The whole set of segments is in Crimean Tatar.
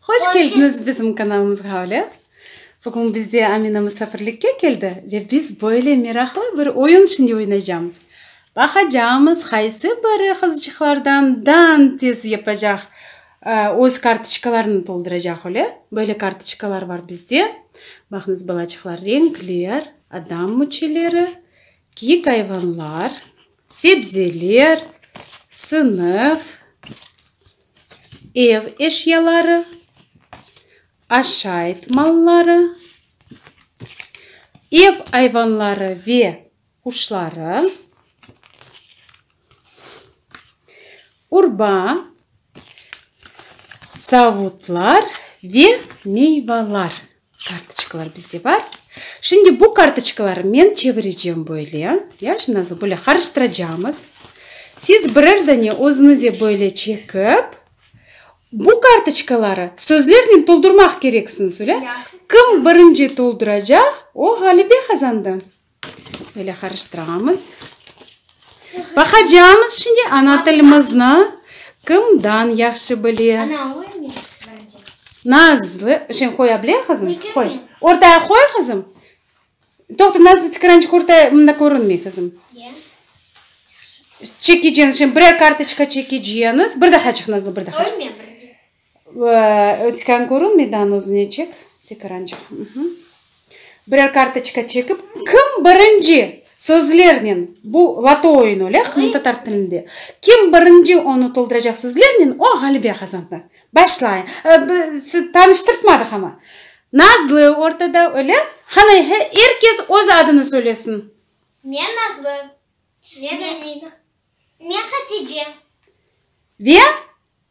Hoş keldiñiz bizim kanalımızğa Öyle. Bugün bizde Amina musafirlikke keldi ve biz böyle meraqlı bir oyun şimdi oynaycamız. Baqacamız qaysı biri qızcıqlardan dan tez yapacaq, öz kartoçkalarını tolduracaq öyle. Böyle kartoçkalar bar bizde. Baqıñız balaçıqlar renkler, adam müçeleri, kiyik ayvanlar, sebzeler, sınıf. ev eşyaları, aşayt malları, ev ayvanları ve quşları, urba, savutlar ve meyvalar. Kartoçkalar bizde bar. Şimdi bu kartoçkaları men çevirecem böyle, ya, şimdi nasıl, böyle qarıştıracağımız. Siz birer dane özünize böyle çekip, bu kartoçkaları sözlernen toldurmaq kereksiñiz, öyle? Kim birinci tolduracaq, o ğalibe qazandı. Böyle qarıştırağamız. Baqacağımız şimdi ana tilimizni kimdan yahşı bile. Ana oymay bence. Nazlı. Şimdi qoya bile kızım? Qoy. Ortaya qoy kızım. Toqta Nazlı tikrançık ortaya mında körünmey kızım. Çekeceğiniz şimdi birer kartoçka çekeceğiniz. Bir daha çık Nazlı bir daha çık. Ötken körün meydan özüne çek, tekrancık. Birer kartoçka çekip, kim birinci sözlernen, bu loto oyunu öyle, qırım tatar tilinde, kim birinci onı tolduracaq sözlernen, o ğalibe qazandı. Başlay, tanıştırtmadıq ama. Nazlı ortada, öyle? Qana, er kes öz adını söylesin. Men Nazlı. Men Emina. Men Hatice. Ve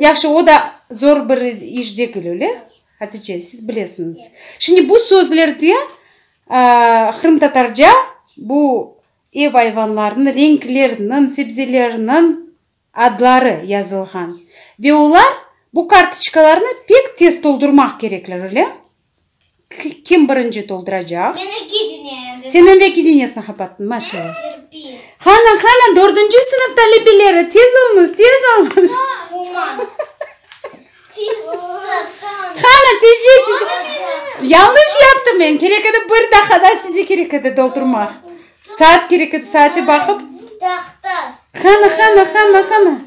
Yahşı, o da zor bir iş degil, öyle? Hatice, siz bilesiñiz. Şimdi bu sözlerde qırımtatarca bu ev ayvanlarınıñ, renklerniñ, sebzelerniñ adları yazılğan. Ve olar bu kartoçkalarnı pek tez toldurmaq kerekler, öyle? Kim birinci tolduracaq? Men öge dineem. Sen öge dineesini qapattın, maşallah. Ben kirpi. Qana, qana, dördünci sınıf talebeleri, tez olunız, tez olunız. Uman. Qana, tece, tece. Yanlış yaptım men, kerek edi, bir daha da size kerek edi doldurmaq. Saat kerek edi, saate baqıp. Qana, qana, qana, qana.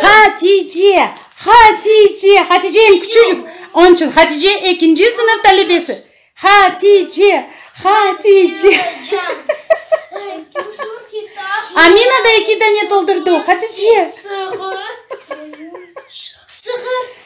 Hatice, Hatice, Hatice eñ küçücük. Onıñ içün Hatice ekinci sınıf talebesi. Hatice, Hatice. Amina da eki dane toldurdı. Hatice. Sığır.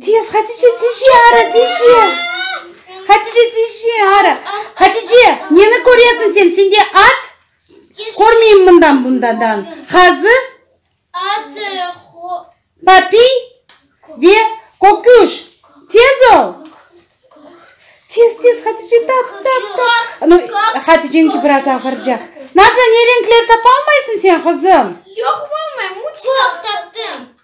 Tez, Hatice, tije ara, tije! Hatice, tije ara! Hatice, neni köresiñ sen? Sende at? Körmeyim mından bundadan. Qazı? Papiy? Ve köküş. Tez ol! Tez, tez, Hatice, tap, tap, tap! Nu, Haticeniñki biraz ağırca. Nazlı, ne renkler tapalmaysıñ sen, qızım? Yoq, taptım.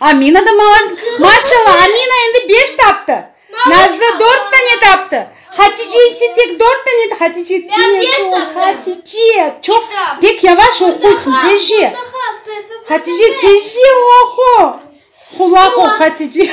Amina da malan. Maşalla, Amina endi beş taptı. Nazlı dört tane taptı. Hatice ise tek dört tane taptı. Hatice tez ol, Hatice. Çoq, pek yavaş oquysıñ, tezce. Hatice, tezce oqu. Qulaq ol, Hatice.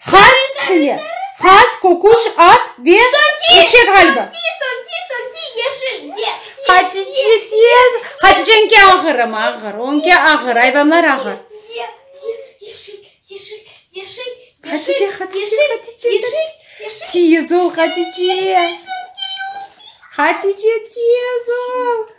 Has sile, has kokuş at ve eşek ğalbi. Hatice tez. Haticenki ağırım, ağır. Onki ağır, ayvanlar ağır. Hatice, Hatice, Hatice, Hatice. Tez ol, Hatice. Hatice, tez ol.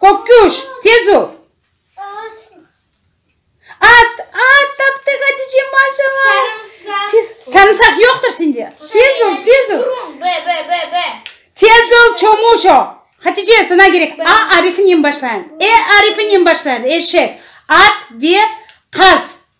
Köküş, tez ol! At, at, taptıq, Hatice, maşalla! Sarımsaq yoqtır sende. Tez ol, tez ol! Tez ol, Çomuşo! Hatice, sana gerek. A arifinen başlayan. E arifinen başlayan, eşek, at ve qaz.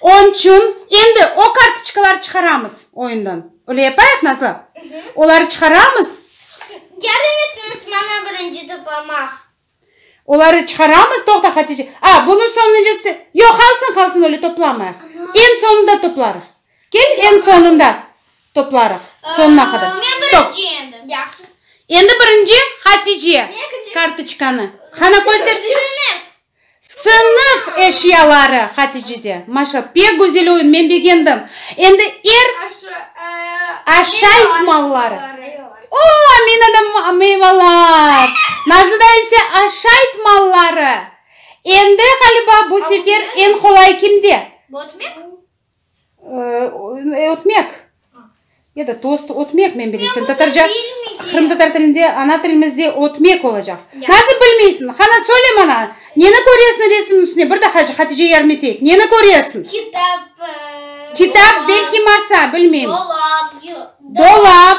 Onıñ içün endi o kartoçkaları çıqaramız oyundan. Öyle yapayıq, Nazlı? Oları çıqaramız. Yardım etiñiz maña birinci toplamaq. Oları çıqaramız, toqta, Hatice. A, bunı soñuncısı. Yoq, qalsın, qalsın, öyle toplamayıq. Eñ soñunda toplarıq. Kel, eñ soñunda toplarıq. Soñuna qadar. Men birinci endi. Yahşı. Endi birinci Hatice kartoçkanı. Qana, köster. Sınıf. Sınıf eşyaları, Haticede, maşa, pek güzel oyun, men begendim. Endi er aşayt malları. O, Aminada meyvalar, Nazıda ise aşayt malları. Endi, ğaliba, bu sefer eñ qolay kimde? Botmek. Ötmek. Ya da tost ötmek, men bilirsen. Tatarca, qırımtatar tilinde, ana tilimizde ötmek olacaq. Nasıl bilmeysiñ? Qana, söyle bana, neni köresiñ resimniñ üstünde? Bir daha Hatice Yarmeteyev, neni köresiñ? Kitap. Kitap, belki masa, bilmeyim. Dolap. Dolap.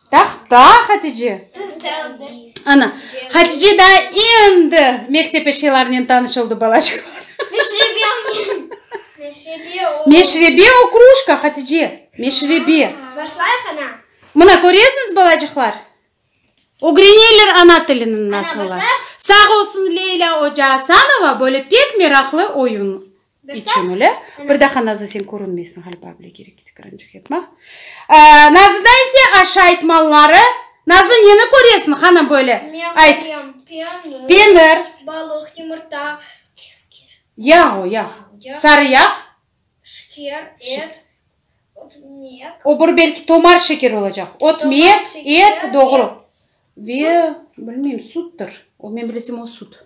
Tahta Hatice. Ana, Hatice daa endi mektep eşyalarınen tanış oldı, balacıqlar. Meşrebe o, krujka, Hatice, meşrebe. Başlayıq, ana. Mına, köresiñiz, balacıqlar? Ögreneler ana tilini nasılla. Sağ olsun, Leyla oca Asanova böyle pek meraqlı oyun İçim öyle. Bir daha Nazlı sen körünmeysiñ ğaliba bile kerek edi kırancıq yapmaq. Nazlıda ise aşa aytmalları. Nazlı neni köresiñ hanım böyle? Ayt. Penir. Balıq, yumurta. Yağ o yağ. Sarı yağ. Şeker, et. O bir belki tomar şeker olacaq. Ot mek, et doğru. Ve bilmeyim suttur. O men bilesem o sut.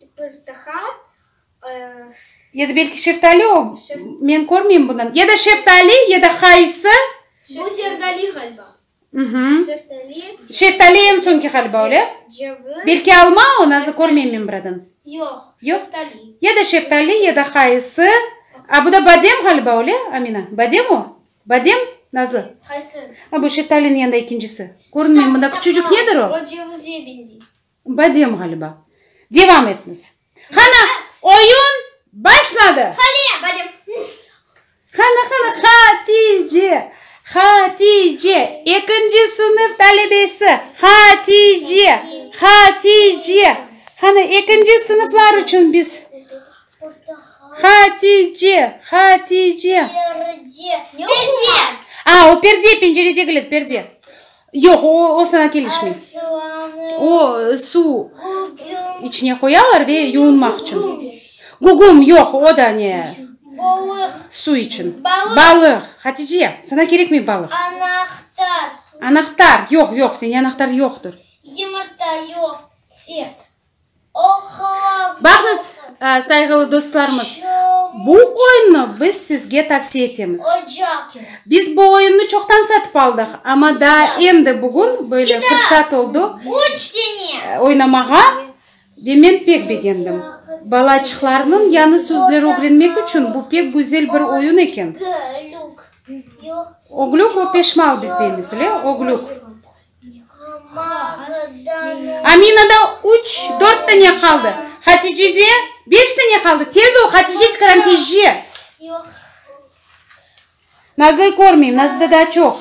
bir daa Ya da belki şeftali o, men körmeyim bundan. Ya da şeftali, ya da qaysı. Bu zerdali ğaliba. Şeftali. Şeftali eñ soñki ğaliba, öyle? Ceviz. Belki alma o, nazı körmeyim men buradan. Yoq, şeftali. Ya da şeftali, ya da qaysı. A, bu da badem ğaliba, öyle, Amina? Badem o? Badem, Nazlı? Qaysı? Bu şeftaliniñ yanında ekincisi. Körünmeyim bunda, küçücik nedir o? O cevizge beñzey. Badem ğaliba. Devam etniz. Qana, oyun başladı! Haliye, badem. Qana, qana, Hatice, Hatice, ekinci sınıf talebesi, Hatice, Hatice. Qana, ekinci sınıflar içün biz Hatice, Hatice. Perde, perde. A, o perde, pencere degil edi, perde. Yoq, o, o saña kelişmey. Soğanı. O, suv Gugum. içine qoyalar ve yuvinmaq içün. Gugum. Gugum, yoq, o da ne, Balıq. suv içün. Balıq. Balıq. Hatice, saña kerekmey balıq. Anahtar. Anahtar, yoq, yoq, sende anahtar yoqtır. Yımırta, yoq, et. Baqıñız, sayğılı dostlarımız, bu oyunnı biz sizge tavsiye etemiz. Biz bu oyunnı çoqtan satıp aldıq, amma daa endi bugün böyle fırsat oldı oynamağa ve men pek begendim. Balaçıqlarnıñ yañı sözler ögrenmek içün bu pek güzel bir oyun eken. Oglük ve peşmal biz deymiz, öyle, oglük. Amina da üç, dört tane qaldı. Hatice de beş tane qaldı. Tez ol, Hatice, tikaran tezce. Nazı körmeyim, Nazı da daa çoq.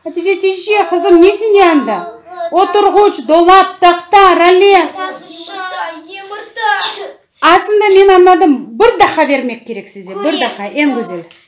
Hatice, tezce, qızım, ne sende anda? Oturğuç, dolap, tahta, rale. Aslında men añladım, bir daha bermek kerek size, bir daha, eñ güzel.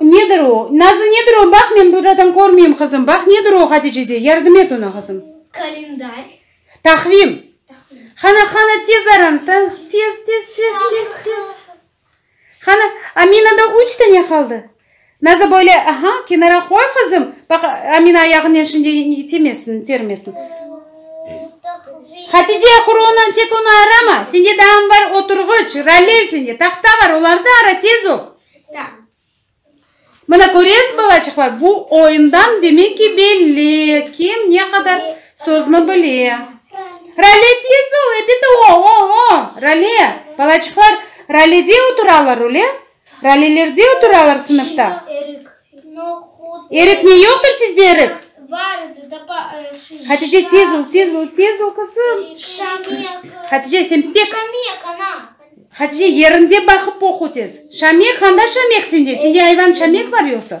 Nedir o? Nazlı, nedir o? Baq, men buradan körmeyim, qızım. Baq, nedir o, Hadicede? Yardım et oña, qızım. Kalendarr. Taqvim. Taqvim. Qana, qana, tez aranız, ta, tez, tez, tez, tez, tez. Qana, Amina da üç tane qaldı. Nazlı böyle, aha, kenara qoy, qızım. Baq, Amina ayağınen şimdi itemezsin, itermesin. Hatice, ahır onan, tek onı arama! Sende daam bar, oturğıç, raley sende, tahta bar, olardı ara, tez ol! Mına köresiz, balaçıqlar, bu oyundan demek ki belli, kim ne qadar sözni bile. Raley, tez ol, epet o-o-o! Raley! Balaçıqlar raleyde oturalar, öyle? Ralilerde oturalar sınıfta. Erik ne yoqtır sizde erik? Hatice tez ol, tez ol, tez ol qızım. Hatice sen pek. Hatice yerinde baqıp oqu tez. Şamek, handa şamek sende? Sende ayvan şamek bar yoqsa?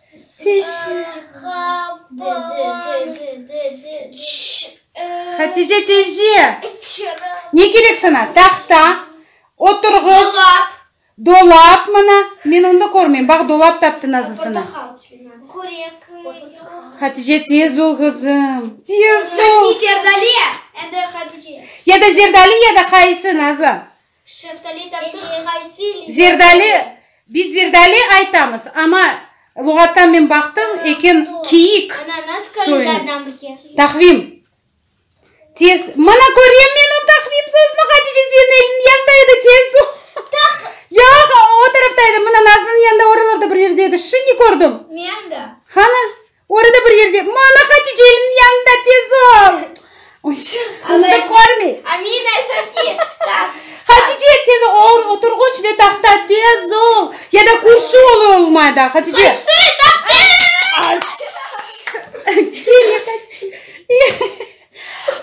Hatice teyze, ne kerek sana? Tahta, oturğıç, dolap, mına, men onı körmeyim, baq, dolap taptı Nazlı sana. Hatice, tez ol, qızım, tez ol. Ya da Zerdali, ya da qaysı, Nazlı. Şeftali taptıq haysi literaturağa? Zerdali, biz zerdali aytamız, amma luğattan men baqtım, eken kiyik soyunı. Tahvim. Tez, mana körem men o tahvim sözüni, Hatice senin eliniñ yanında edi, tez su. Yoq, o tarafta edi, mına Nazlınıñ yanında oralarda bir yerde edi, şimdi kördim. Mende. Qani? Orada bir yerde, Mana Haticeliñniñ yanında, tez ol! Onıda körmey. Amina, Sofki, taht. Hatice, tez ol, oturğuç ve tahta, tez ol! Ya da kürsü ola olmay da, Hatice. Kürsü, tahta! Ay! Kene Hatice.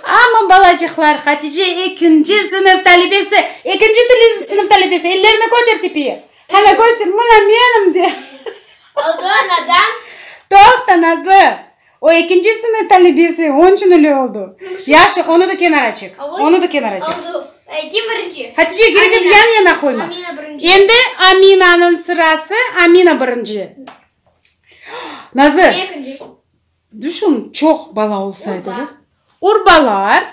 Aman, balacıqlar, Hatice ekinci sınıf talibesi, ekinci sınıf talibesi, ellerini köter tepeye. Hele körsün, mına menim de. Oldu anadan. Toqta, Nazlı. O ekinci sınıf talebesi, onıñ içün öyle oldu. Yaşı, onı da kenara çek. Onı da kenara çek. Oldu. Kim birinci? Hatice, gerek yoq, yan-yana qoyma. Amina birinci. Endi Aminanıñ sırası, Amina birinci. Nazlı. Ekinci. Düşün, çoq bala olsaydı da. Urbalar.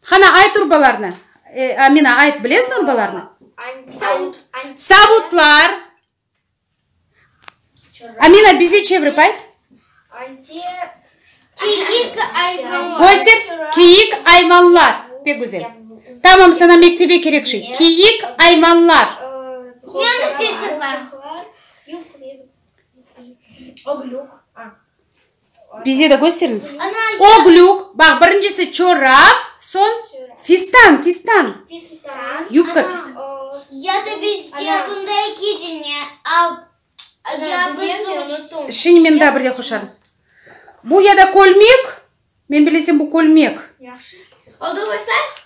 Qana, ayt urbalarnı. E, Amina, ayt, bilesmi urbalarnı? Savut. Savutlar. Amina, bize çevirip ayt. Kiyik, ayvanlar. Göster, kiyik, ayvanlar. Pek güzel. Tamam, sana mektebe kerek şey. Kiyik, ayvanlar. Yanık tesirler. Oglük. Bize de gösteriñiz. O glük, baq, birincisi çorap, soñ fistan, fistan. Fistan. Yubka, fistan. Ya da bizde bunda eki dine, Şini men daa bir de qoşarım. Bu ya da kölmek, men bilesem bu kölmek. Yahşı. Oldu, başlayıq?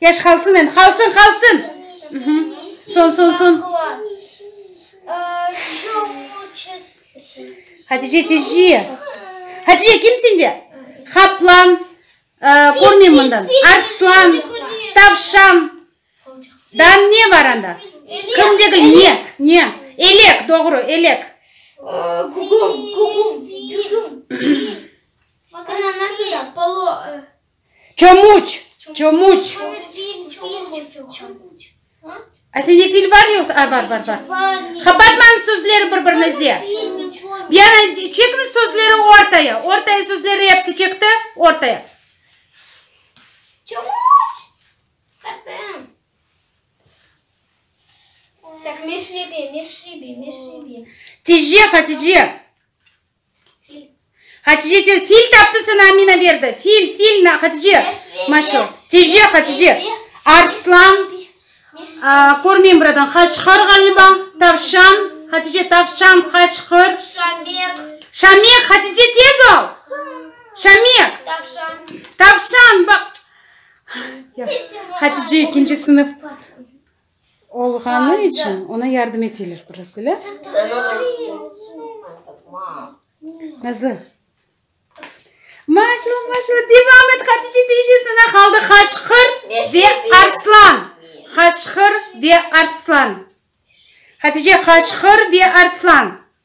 Yaş qalsın endi, qalsın, qalsın! Son, son, son! Hatice teci! Hatice, kim sende? Qaplan, körmeyim mından, arslan, tavşan, da ne bar anda? Kim degil, ne, ne? Elek, doğru, elek. Küküm, küküm, küküm. Ana, nasıl da, polo. Çomuç, çomuç. A sende fil bar yoqsa? A, bar, bar, bar. Qapatmañız sözleri bir-birinize. Diana, çekiñiz sözleri ortaya. Ortaya sözleri episi çekti, ortaya. Çomuç. Qırpın. Meşrebe, meşrebe, meşrebe. Tijce, Hatice. Fil. Hatice tez, fil taptı sana Amina berdi. Fil, fil na, Hatice. Maşo. Tece, Hatice. Arslan. Körmeyim buradan. Qaşqır ğaliba. Tavşan. Hatice, tavşan, qaşqır. Şamek. Şamek, Hatice tez ol. Şamek. Tavşan. Tavşan, baq. Hatice, ikinci sınıf. olğanı içün oña yardım eteler biraz, öyle? Nazlı. Maşa, maşa, devam et, Hatice teyze sana qaldı Qaşqır ve Arslan. Qaşqır ve Arslan. Hatice, Qaşqır ve Arslan.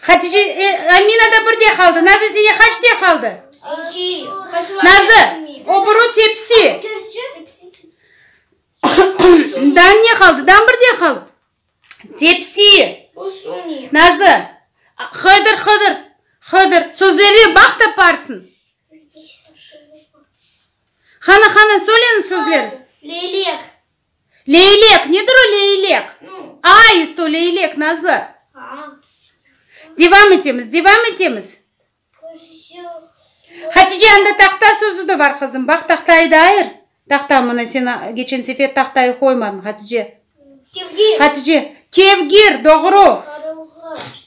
Hatice, e, Amina da bir de qaldı. Nazı, sene qaç de qaldı? İki. Nazı, o buru tepsi. Dan ne qaldı? Dan bir de qaldı. Tepsi. Nazı, Hıdır, Hıdır, Hıdır. Sözleri baq taparsın. Hana, Hana, söyleñiz sözleri. Leylek. Leylek, nedir o leylek? Aist o leylek, Nazlı. Devam etemiz, devam etemiz. Hatice, anda tahta sözü de bar, qızım. Baq, tahtayı da ayır. Tahta, mına sen geçen sefer tahtayı qoymadıñ, Hatice. Kevgir. Hatice, kevgir, doğru. Qaruğaç.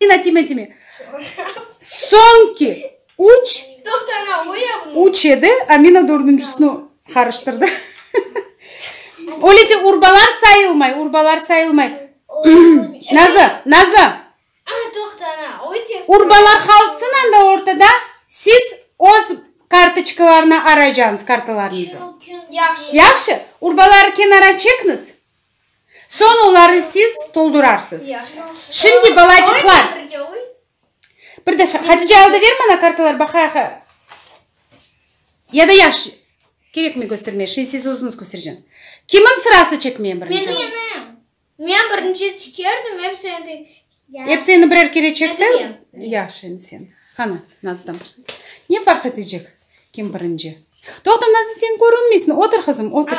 Dinatime dime. Soñki üç, üç edi, Amina dördüncüsini qarıştırdı. Öyleyse urbalar sayılmay, urbalar sayılmay. Nazı, Nazı, urbalar qalsın anda ortada, siz öz kartoçkalarnı araycañız, kartalarnıñzı. Yahşı, urbaları kenara çekniz. Soñ oları siz toldurarsız. Şimdi, balacıqlar, bir de Hatice al da ver maña kartalar baqayıq. Ya da yaş, kerekmey köstermeye, şimdi siz özüñiz köstereceğiñ. Kimniñ sırası çekmeye birinci? Menim. Men birinci tikerdim, episi endi. Episi endi birer kere çekti. Endi men. Yaş, endi sen. Qana, Nazlıdan başla. Ne farq etecek, kim birinci? Toqta, Nazlı, sen körünmeysiñ, otur qızım, otur.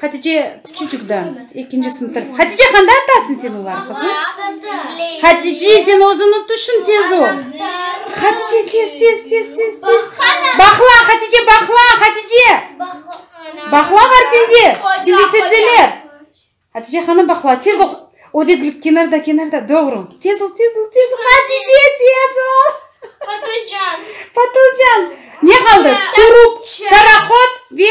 Hatice küçücük dan ekinci sınıfta. Hatice qanda atasın sen olar qızım? Hatice sen özüni tüşün tez ol. Hatice tez tez tez tez tez. Bahla Hatice bahla Hatice. Bahla var sende. Sende sebzeler. Hatice hanım bahla tez ol. O da bilip kenarda kenarda doğru. Tez ol tez ol tez ol. Hatice tez ol. Patlıcan. Patlıcan. Ne qaldı? Turp, taraqot ve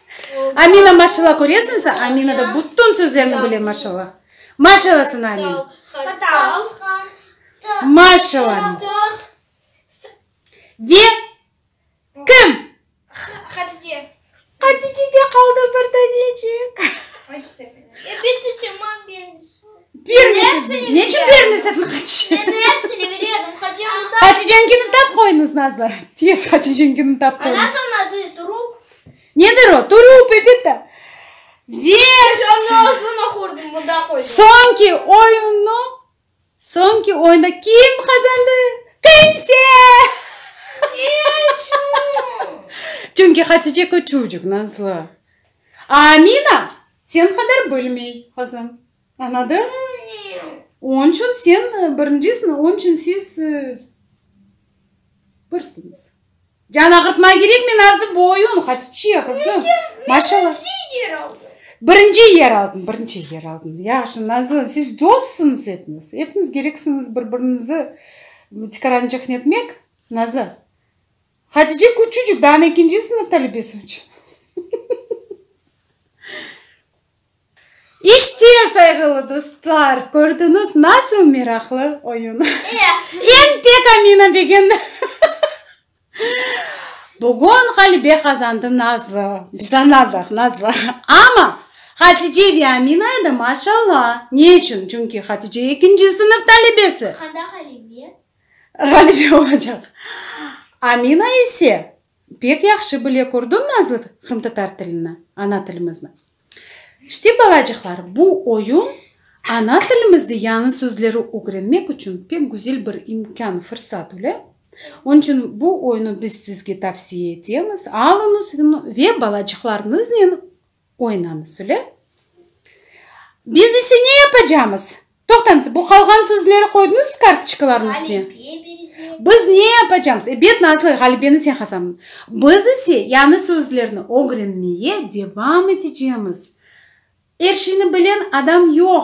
Amina maşalla köresin sen Amina da bütün sözlerini bile maşalla maşalla sen Amin maşalla ve kim Hatice de qaldı bir tanecik bermesene ne içün bermesene Haticenkini tap qoyuñız nazlı tez Haticenkini tap qoyuñız Nedir o? Turuv, Pepita! Ves! Soñki oyunnı, soñki oyunda kim qazandı? Kimse! Çünki Hatice küçücik, nazlı. A Amina sen qadar bilmey, qızım. Añladıñ? Onıñ içün sen birincisiñ, onıñ içün siz birsiñiz. Can ağırtma kerekmi nazı bu oyun hadi çiye kızım maşallah birinci yer aldın birinci yer aldın yahşı nazlı siz dostsunuz epiniz epiniz kereksiniz bir birinizi tikarançıqnı etmek nazlı hatice küçücük daa ekinci sınıf talebesi İşte, sayğılı dostlar, kördiñiz, nasıl meraqlı oyun! Em pek Amina begen! Bugün ğalibe qazandı Nazlı. Biz añladıq, Nazlı. Amma Hatice ve Amina edi, maşalla! Ne içün? Çünki Hatice ekinci sınıf talibesi. Qanda ğalibe? Ğalibe olacaq. Amina ise Pek yahşı bile kördim nazlı qırımtatar tilini, ana tilimizni. İşte, balacıqlar, bu oyun ana tilimizde yañı sözleri ögrenmek içün pek güzel bir imkân, fırsat öyle. Onıñ içün bu oyunu biz sizge tavsiye etemiz, alıñız ve balacıqlarıñıznen Oynanı sule. Biz ise ne yapacamız? Toqtañız, bu qalğan sözleri qoydıñız kartoçkalarnıñ üstüne? Biz ne yapacamız? Ebet, Nazlı, ğalibeni sen hasablın. Biz ise yañı sözlerni ögrenmeye devam etecemiz. Er şeyni bilen adam yoq.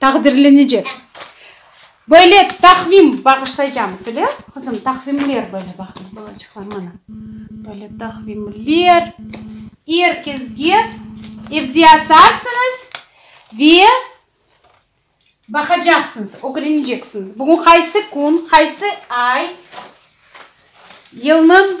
Taqdirlenecek. Böyle taqvim bağışlaycamız, öyle? Qızım, taqvimler böyle baqıñız, balaçıqlar, mana. Böyle taqvimler. Er kezge evde asarsıñız ve baqacaqsıñız, ögreneceksiñiz, bugün qaysı kün, qaysı ay, yılnıñ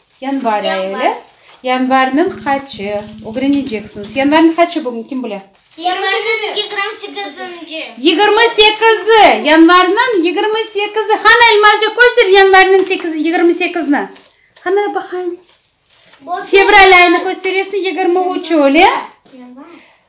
Yanvar ayılı, yanvarnıñ qaçı, ögreneceksiñiz. Yanvarnıñ qaçı bugün, kim bile? Yanvarnıñ yigirmi sekizinci. Yigirmi sekizi, yanvarnıñ yigirmi sekizi. Qani, Almazca köster yanvarnıñ sekizi, yigirmi sekizni. Qani, baqayım. Fevral ayını kösteresini, yigirmi üçü, öyle?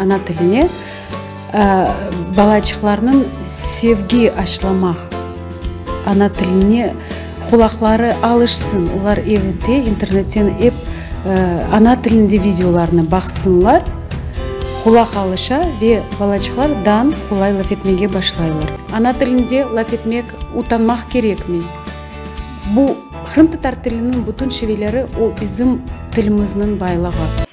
Ana tiline balaçıqlarnıñ sevgi aşılamaq, ana tiline qulaqları alışsın, olar evde, internetten ep ana tilinde videolarnı baqsınlar, qulaq alışa ve balaçıqlar dan qolay laf etmege başlaylar. Ana tilinde laf etmek utanmaq kerekmi? Bu, qırımtatar tiliniñ bütün şiveleri, o bizim tilimizniñ baylığı.